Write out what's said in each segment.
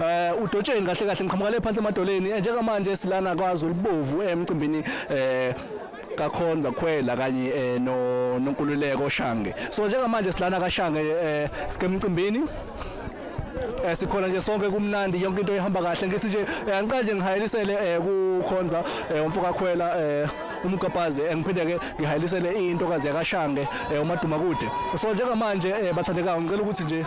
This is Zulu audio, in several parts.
eh udotsheni kahle kahle ngiqhamuka le phansi emadoleni eh, njengamanje silana kwaZulu bovu eh, emcimbini eh kakhonza khwela kanye eh, no nonkululeko shange so njengamanje silana kashange eh, sikemcimbini eh sikhona nje sonke kumnandi yonke into ihamba kahle ngithi nje eh, angiqale nje ngihayelisele eh, kukhonza eh, umfoka khwela eh umgabhazi engiphinde ke ngihayelisele intokazi yakashange eh, umadumakude so njengamanje eh, bathandekayo ngicela ukuthi nje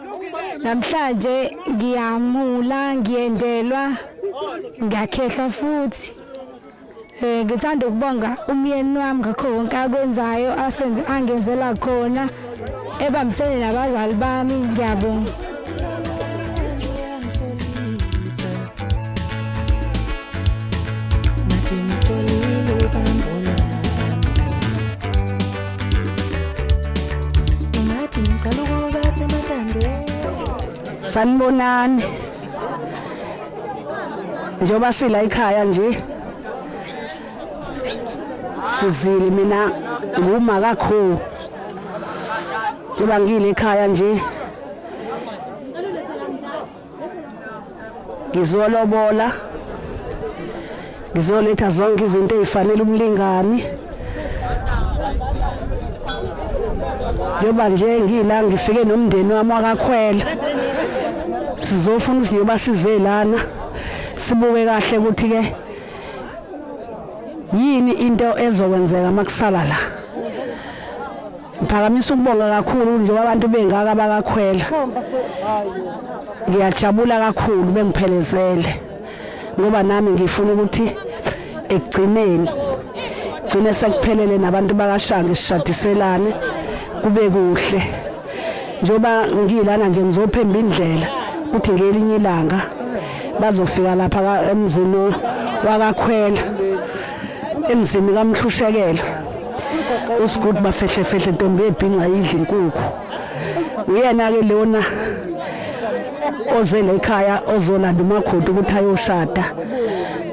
namhlanje ngiyamula ngiyendelwa ngiyakhehlwa futhi um ngithanda ukubonga umyeni wami ngakho konke akwenzayo angenzela khona ebambisene nabazali bami ngiyabonga sanibonani njengoba sila ikhaya nje sizile mina nguma kakhulu ngoba ngile ekhaya nje ngizolobola ngizoletha zonke izinto ezifanele umlingani njengoba nje ngila ngifike nomndeni wami wakakhwela sizofuna ukuthi njengoba size lana sibuke kahle ukuthi ke yini into ezokwenzeka makusala la Ngiphakamisa ukubonga kakhulu njengoba abantu bengaka bakakhwela. Ngiyajabula kakhulu bengiphelezele ngoba nami ngifuna ukuthi ekugcineni gcine sekuphelele nabantu bakashanga sishadiselane kube kuhle njengoba ngilana nje ngizophemba indlela ukuthi ngelinye ilanga bazofika lapha emzini wakakhwela emzini kamhlushekela usigudu bafehlefehle ntombi ebhinca yidla inkukhu uyena-ke lona ozele ekhaya ozolanda umakhoda ukuthi ayoshada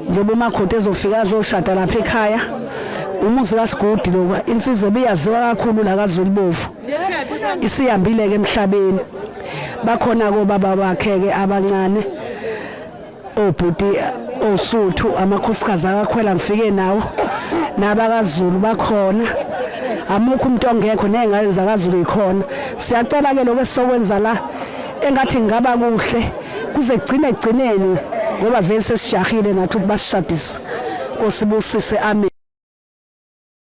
njengoba umakhoda ezofika azoshada lapha ekhaya umuzi kasigudi loku insizwa ebiyaziwa kakhulu la kazulubovu isihambile-ke emhlabeni bakhona-ke obaba bakhe-ke abancane obhuti osuthu amakhosikazi akakhwela ngifike nawo nabakazulu bakhona amukho umuntu ongekho nezingane zakazulu ikhona siyacela ke lokho esizokwenza la engathi ngaba kuhle kuze kugcine egcineni ngoba vele sesijahile nathi ukuthi basishadise kosibusise amen